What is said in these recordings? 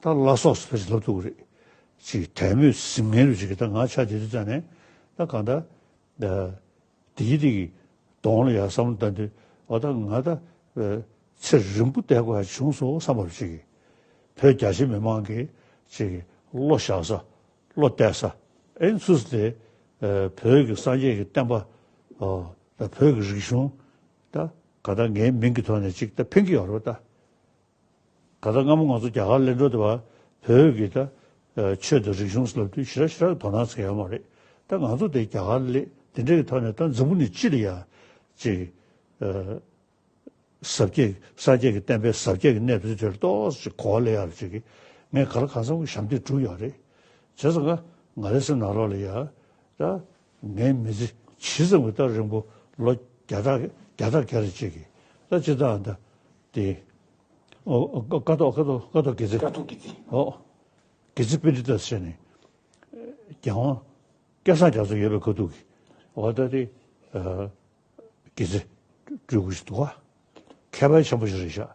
ད་བླ་སོགས་སུ་ད་ཅི་ལབ་ཐུབ་ཀྱི་རེད། ཅེས་དད་མོས་ཟིང་ངེ་རུ་བྱེད་ཀྱི་ད་ང་ཆ་དེ་དུས་བཙལ་ནས་ད་གང་ད། དེའི་སྟེང་གི་གདོང་ལ་ཡར་བསམ་བློ་བཏང་དུས་འོ་ད་ང་ད། ཚེ་རིང་པོ་བསྡད་དགོས་ཧ་བྱུང་སོང་བསམ་པ་རུ་བྱེད་ཀྱི། བོད་རྒྱ་ཆེ་མི་མང་གིས་ཅེས་བློ་བཞག་ས། བློ་གཏད་ས། ཨེ་འཚུ་ས་དེ། བོད་ཀྱི་སངས་རྒྱས་ཀྱི་བསྟན་པ། ད་བོད་ཀྱི་རིག་གཞུང། ད་གང་ད་ངའི་མིང་གི་ཐོག་ནས་ཅིག་ད་འཕེན་གྱི་ཡོད་རེད་པ་ད། ད་ལྟ་སྔ་མོ་ང་ཚོ་རྒྱ་གར་གླེང་དྲོ་དེ་བར་བོད་ཀྱི་ད་ཆོས་དང་རིག་གཞུང་ལབ་དུས་ཞི་རག་ཞི་རག་གི་དོ་སྣང་བྱེད་ཡོད་མ་རེད་ད་ང་ཚོ་དེ་རྒྱ་གར་ལས་དེ་འདྲ་གི་ཐོག་ནས་ད་འཛམ་བུ་ནི་ཅི་ལ་ཡང་ཅིག་ཟབ་རྒྱས་ཀྱི་སངས་རྒྱས་ཀྱི་བསྟན་པའི་ཟབ་རྒྱས་ཀྱི་གནས་དོན་དེར་ཏོག་ཅིག་གོ་བ་ལེན་ཡག་རེད་ཅེས་ཀྱི་ངས་ག་ལ་གང་བསམ་གི་ཞབས་འདེགས་བསྒྲུབས་ཡག་རེད་བྱས་ཙང་ང་ང་རེ་སེམས་ནང་རོགས་ལ་ཡག་ད་ངའི་མི་ཚེ་ཇི་ཙམ་གྱི་ད་རིང་པོ་ལོ་བརྒྱ་ཕྲག་བརྒྱ་ཕྲག་བརྒྱ་རེད་ཅེས་ཀྱི་ད་ཅི་ལྟའང་ད་ཏེ། ཀ་ཐོག་དགེ་ཚེ། ཀ་ཐོག་དགེ་ཚེ། ཨོ། དགེ་ཚེ་དཔེ་འདི་ལྟར་བཤད་ནས། རྒྱལ་དབང། སྐལ་བཟང་རྒྱ་མཚོ་ཡོད་པའི་གོ་ཐུག་གིས། འོ་ད་དེ། དགེ་ཚེ། སྤྲུལ་སྐུ་ཞིག་འདུག་ག། མཁས་པ་ཆེན་པོ་ཞིག་རེད་ཤག།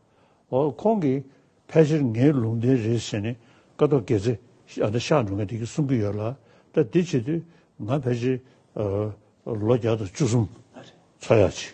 འོ་ཁོང་གིས། ཕལ་ཆེར་ངའི་ལུང་བསྟན་རེད་ཟེར་ནས། ཀ་ཐོག་དགེ་ཚེ། ཨ་ན་ཤག་འགྲོ་མཁན་དེ་གིས་གསུང་གི་ཡོད་ལ། ད་དེ་བྱེད་དུས། ང་ཕལ་ཆེར། ལོ་བརྒྱ་དང་བཅུ་གསུམ། འཚོ་ཡག་ཅིག།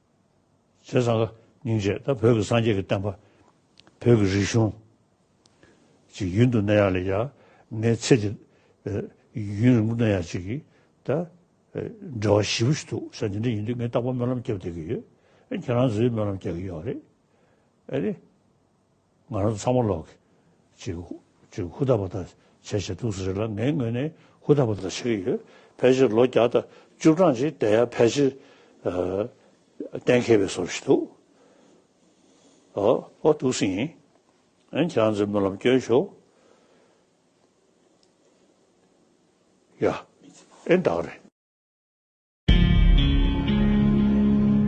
ཚེ་བཟང་སྙིང་རྗེས་ད་བོད་ཀྱི་སངས་རྒྱས་ཀྱི་བསྟན་པ། བོད་ཀྱི་རིག་གཞུང། ཅིག་ཡུན་དུ་གནས་ཡག་ལས་ཡག་ངའི་ཚེ་འདི། ཡུན་རིང་པོ་གནས་ཡག་ཅིག་གིས་ད། འབྲེལ་བ་ཞིབ་པོ་ཞིག་འདུག་ས་འདི་འདྲ་ཡིན་དུས་ངས་རྟག་པར་སྨོན་ལམ་བརྒྱབ་བསྡད་ཀྱི་ཡོད། ཁྱེད་རང་ཚོས་སྨོན་ལམ་རྒྱག་གི་ཡོད་རེད། ང་རང་ཚང་མ་ལོག་གི། ཅིག། ཅིག་ཧུ་ཐག་པ་ཐག་བྱས་བྱས་འདུག་ཟེར་རེད་ལ་ངའི་ངོས་ནས་ཧུ་ཐག་པ་ཐག་བྱས་ཀྱི་ཡོད། ཕལ་ཆེར་ལོ་བརྒྱ་དང་བཅུ་གྲངས་ཅིག་བསྡད་ཡ་ཕལ་ཆེར། གཏན་འཁེལ་བའི་སོར་བཞི་འདུག་ཨོ། ཨོ་འདུག་སྲིད་ཡིན། ཨན་ཁྱེད་རང་ཚོའི་སྨོན་ལམ་བསྐྱོན་ཤོག། ཡ། ཨེ་འདག་རེད།